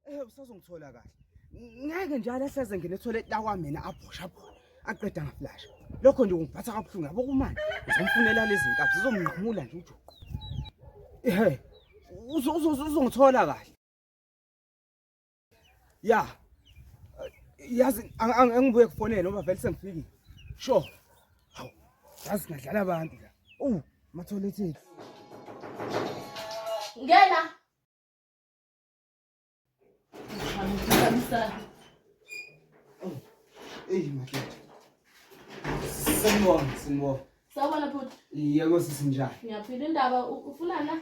Eh usazongithola kahle. Ngeke njalo ahleze ngene ethole lakwa mina aphosha phona. Aqeda ngaflasha. Lokho nje ungiphatha kabuhlungu yabo kumanje. Ngizomfunela lezi nkabi zizomnqamula nje ujuqu. Ehhe. Uzongithola kahle. ya yazi angibuye kufonele ngoba vele sengifikile sure hawu yazi ngadlala abantu la uwu matholethile ngena eyi madoda sanibona sanibona sawubona bhuti yebo sisi njani ngiyaphila indaba ufunana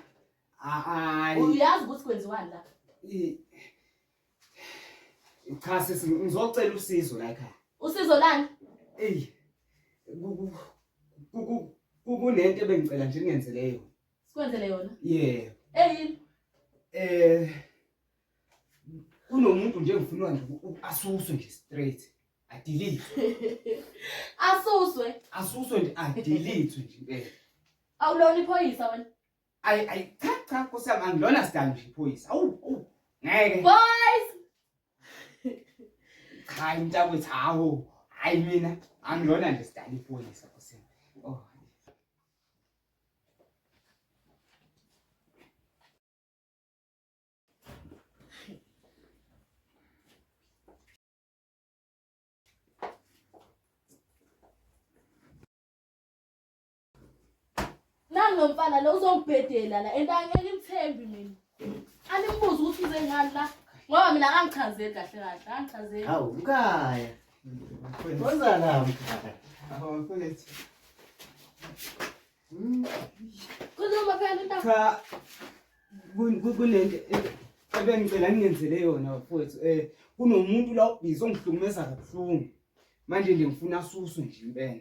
hayi uyazi ukuthi kwenziwani la I- cha sisi ngizocela usizo la ekhaya usizo lani eyi ku- ku- ku- ku- ku- kunento ebengicela nje ningenzele yona sikwenzele yona yeah eyini eh kunomuntu nje ngifunwa nje uku- uku- asuswe nje straight adilizwe asuswe asuswe nje adilizwe nje impela awulona iphoyisa wena Ay ay cha cha nkosi yami angilona sidali nje iphoyisa. Awu awu ngeke. Boys. Cha mntakwethu hawo. Hayi mina angilona nje sidali iphoyisa nkosi yami. Oh. Nangu lo mfana lo uzongibhedela la and angimthembi mina. Animbuze ukuthi uze ngani la ngoba mina angichazeli kahle kahle angichazeli. Hawu mkhaya. Wenza la mkhaya. Hawu mfethu. Hmm. Khuluma phela into. Cha kunento ebengicela ngingenzele yona mfowethu eh kunomuntu la ubhizi ongihlukumeza kabuhlungu manje nje ngifuna suswe nje impela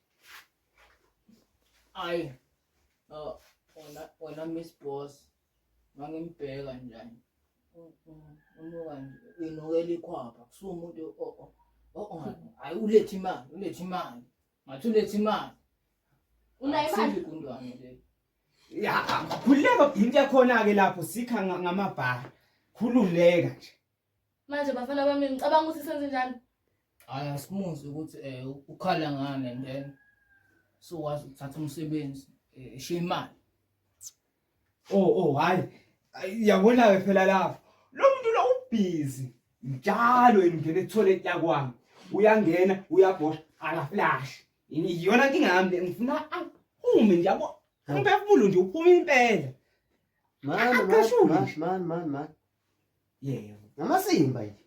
ayi oh, wena wena miss boss mangimbheka njani unuka nje inukela ikhwapha kusuka umuntu hayi ulethe imali ulethe imali ngathi ulethe imali unayo imali igundwane le ya khululeka into yakhona-ke lapho sikha ngamabhara khululeka nje Manje bafana bami ngicabanga ukuthi senze njani? Hayi asimuzi ukuthi eh ukhala ngani and then so wazi ukuthatha umsebenzi eh, eshiya imali. Oh oh hayi. Ay, Yabona ke phela lapho. Lo muntu lo ubhizi. Njalo engena etoilet yakwami. Uyangena, uyabhosha, akaflash. Yini iyona inkinga yami le ngifuna aphume nje yabo. Umphefumulo nje uphuma impela. Mani, Akasho mani, mani, mani, mani, mani. yebo ngamasimba nje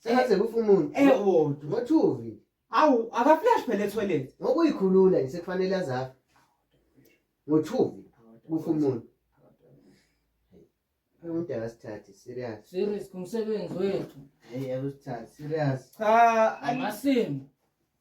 sengaze kufa umuntu ewodwa ngothuvi awu akaflash phela etoilet ngokuyikhulula nje sekufanele azafe ngothuvi kufa umuntu umuntu akasithathi serious serious kumsebenzi wethu hey akusithathi serious cha amasimba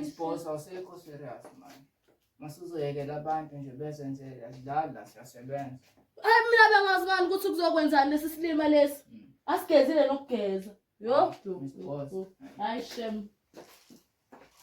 Isiphosa usekho serious manje. Masuzoyekela abantu nje bezenzele asidlali la siyasebenza. Hayi mina bengazi ngani ukuthi kuzokwenzani lesi silima lesi. Mm. Asigezile nokugeza. Yo. Isiphosa. Hayi shem.